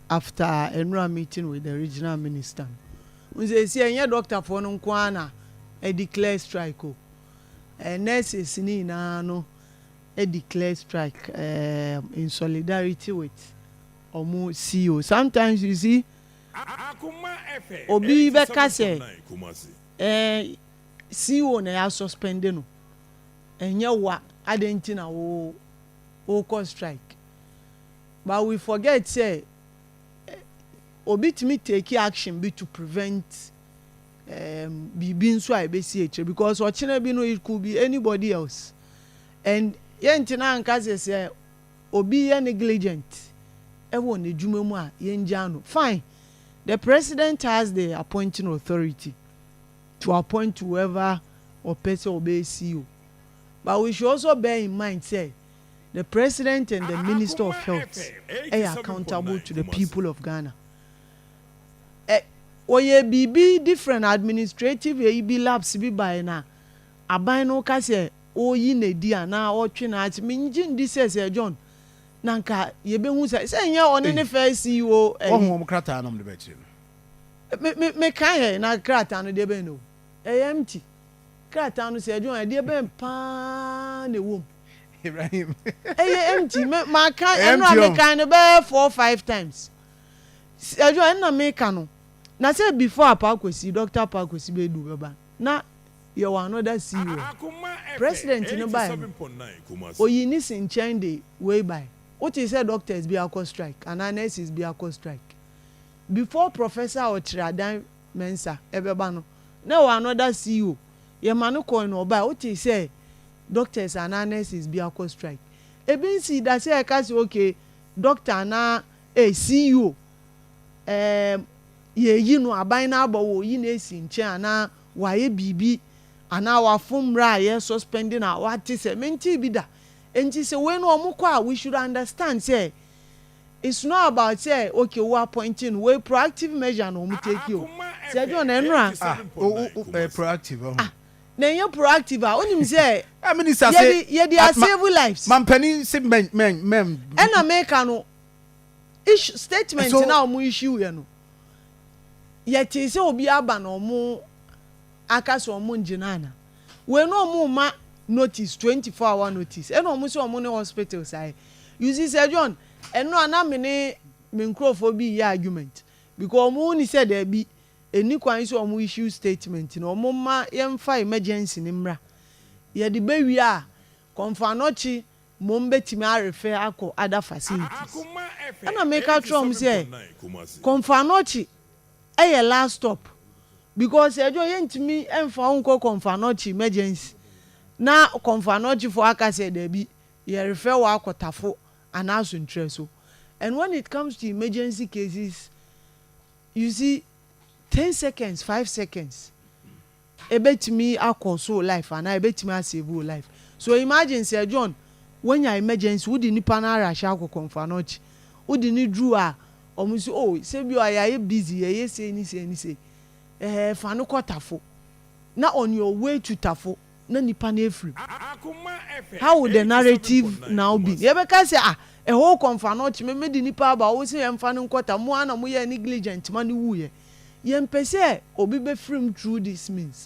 after nwura meeting with the regional minister no. Wohu seesei ɛnyɛ doctor foɔ no nko ara na adeclare strike o, ɛɛ nurses no nyinaa no adeclare strike ɛɛ in solidarity with wɔn CEO. Sometimes you see obi bɛka sɛ ɛɛ CEO na yɛ asuspende no, ɛnyɛ wo a, adɛn nti na wo wokɔ strike? But we forget sɛ obi tumi take action bi to prevent um biribi nso a ɛbɛsi akyire because ɔkyena bi no it could be anybody else and yɛntena anka sɛ sɛ obi yɛ negligent ɛwɔ n'adwuma mu a yɛngyaa no fine the president has the appointing authority to appoint whoever ɔpɛ sɛ ɔbɛyɛ CEO but we should also bear in mind sɛ The president and the minister of health yɛ accountable to the people of Ghana. Ɛ Wɔyɛ biribi different administrative ɛyi bi lapse bi baeɛ na aban no ka sɛ ɔreyi no adi anaa ɔretwe no ase. Mengye ndi sɛ Sir John na nka yɛbɛhu saa sɛ ɛnyɛ ɔne ne first CEO ɛyi. Wɔahu wɔn krataa na wɔde bɛkyerɛ no. Me me mekaeɛ na krataa no deɛ bɛn na ɔhu? Ɛyɛ empty. Krataa no, sɛ ɛde a, ɛdeɛ bɛn paa na ɛwɔ mu? Ibrahim. Ɛyɛ empty. Me, maka, Ɛyɛ ɛno a empty o. mekan no bɛyɛ four, five times. S- Ɛde a, ɛna meka no. Na sɛ before Apaa Kwasi, Dɔkta Apaa Kwasi bɛdu bɛba, na yɛwɔ another CEO hɔ. President no baeɛ no, ɔyii ne si nkyɛn de wei baeɛ. Wotee sɛ doctors bi akɔ strike anaa nurses bi akɔ strike? Before Professor a ɔkyerɛ adan Mensah, ɛbɛba no, na ɛwɔ another CO. Yɛma no kɔɔe na ɔbae. Wotee sɛ doctors anaa nurses bi akɔ strike? Ebi nsii da sɛ ɛka sɛ okay, doctor anaa eh, CO, eh, yɛayi no, aban no aba, wɔreyi no asi nkyɛn anaa wayɛ biribi anaa wafom mmara a yɛ suspend no a, woate sɛ, mentee bi da. Enti sɛ wei no wɔkɔ a, we should understand sɛ It's not about sɛ okay wo appoint no wei proactive measure na wɔn take o sɛ John ɛno a. Ah o o o ɛyɛ proactive ɔho. Ah na ɛnyɛ proactive a wonim sɛ. Ah minister se yɛde yɛde a save lives. Mampanin se mɛn mɛn mɛn. Ɛna meka no issue statement so, na wɔn issue yɛ no yɛtee sɛ obi aba na wɔn aka sɛ wɔn ngyina ana. Wei no ɔmo ma notice twenty four hour notice ɛna ɔmo sɛ ɔmo ne hospitals ayɛ you see sir John ɛno a na me ne me nkorɔfoɔ bi yɛ argument because ɔmo huni sɛ daabi ɛnni kwan sɛ ɔmo issue statement no ɔmo ma yɛnfa emergency no mmra yɛde bɛwie a Kɔmfoanɔkye mmom betumi arefɛ akɔ other facilities. Ɛna meka kyerɛɛ wɔn sɛ, Kɔmfoanɔkye yɛ last stop because ɛdwo yɛntumi mfa wo nkɔ Kɔmfoanɔkye emergency na Kɔmfoanɔkyefoɔ aka sɛ dabi, yɛrefɛ wo akɔ Tafo anaa Asontrɛ so. And when it comes to emergency cases, you see, ten seconds, five seconds. Ebetumi akɔ so wo life anaa ebetumi a save wo life. So imagine sɛ John wanya emergency wode nipa no arash akɔ kɔnfuanɔkye wode no duru a ɔmo se oh sɛ bi a yayɛ busy yɛyɛ sei ne sei ne sei eh fa no kɔ tafo na on your way to tafo na nipa no afiri mu how would the narrative now been? Yɛbɛka sɛ ah Eho kɔ nfa no kye me me de nipa aba wo se yɛnfa no nkɔ ta mo ara na mo yɛɛ negligent ma no wuiɛ yɛmpɛ sɛ obi bɛfiri mu through this means.